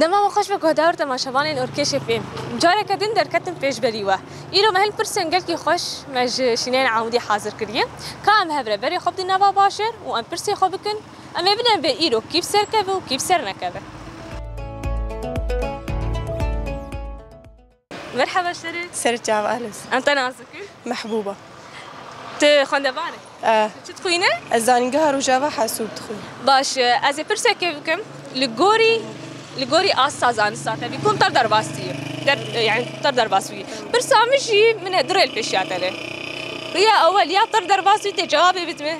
Dema we xweş ve guhdar temaşevanên orkêşê fêm. Careke din derketin pêşberî we. Îro me hin pirsên gelkî xweş me ji şîneyên Amûdî hazir kiriye. Ka em hev re berê xwe bidin nava bajêr û em pirsê xwe bikin, em ê bidin vê îro kîv serkeve û kîv sernekeve. Merheba şerê. Serê çav Alis. Em te nas dikin. Mehbûba. Tu xwendevar î? Eh. Çi dixwîn î? Ez zanîngeha Rojava Hesûb dixwîn. Baş e. Ez ê pirsekê bikim. Li gorî li gorî asta zanista te bî kom tev derbas dî der yani tev derbas bî. Pirsa min jî min e du rê li pêşiya te ne. Rêya ewel ya tev derbas bî tê cewabê bidime.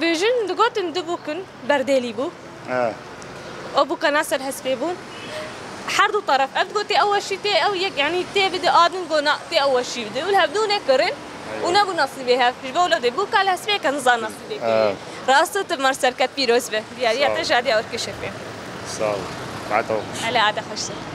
Bi jin digotin du bûkin berdêlî bû. Ew bûkana ser hespê bûn. Her du teref ev digot tê ew weşî tê ew yek yanî tê bide a din got na tê ew weşî bide û li hevdu nekirin û nebû nasîbê hev. Ji bo lodê bûka li hespê yeke nizan nasîbê kiriye. Rast û timar serket pîroz be. Diyariya te ji Adiya Urkişê pê. Sağ ol. Ade xweş. Elê ade xweş.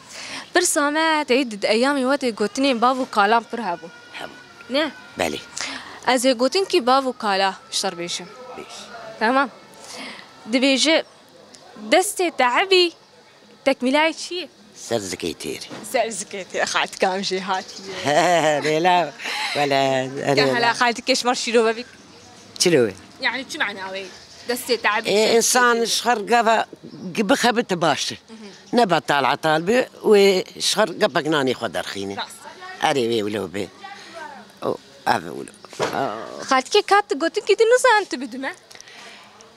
Pirsa me tê di eyamê we tê gotinên bav û kalan pir hebûn. Hebûn. Ne? Belê. Ez ê gotin kî bav û kala şer bêjim. Bêj. Tamam. Dibêje destê te ebî tekmîlayê çi yê? Ser zikê têrê. Ser zikê têrê. Xaltikam jê hatiye. Lêla wele. Ka hala xaltikê ji mar şîrove bî. Çile wê. Yani çi mana wê? Destê te'b. Ê insan ji xwe gava bixebite baş e. Ne betal etal be wê ji xwe gepek nanê xwe derxîne. Erê wê wilo be. Ev wilo. Xaltikê kat gotin kî tu nizan tu bidime.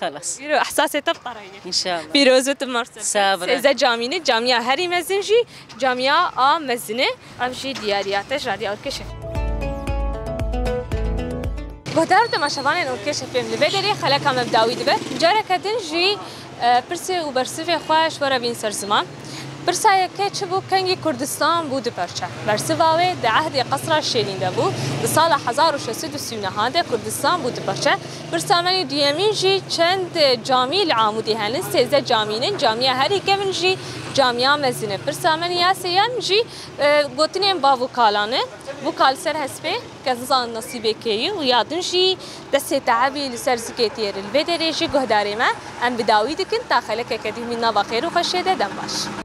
Xelas. Îro ehsasê te bi qere ye. Înşallah. Pîroz û timar ser. Sağ ol. Sêze camîn e. Camîya herî mezin jî camîya a mezin e. Ev jî diyariya te ji alîya Urkeşê. Guhdar temaşevanên Urkeşê fêm li vê derê xeleka me bi dawî dibe. Careke din jî pirsê û bersivê xwe ji we re bîn ser ziman. Pirsa yeke çi bû kengî Kurdistan bû du perçe. Bersiva wê di ehdê Qesra Şêrîn de bû. Di sala hezar û şeş sed û sî û neh de Kurdistan bû du perçe. Pirsamenê duyemîn jî çend camî li Amûdê henin, sêzdeh camî ne, camiya herî kevn jî camiya mezin e. Pirsamenê ya sêyem jî gotinên bav û kalan e. Bû ka li ser hespê kes nizane nasîbê kê ye û ya din jî destê teebî li ser zikê tî ye. Li vê derê jî guhdarê me em bi dawî dikin ta xelekeke dî himîn nava xêr û xweşê de dem baş.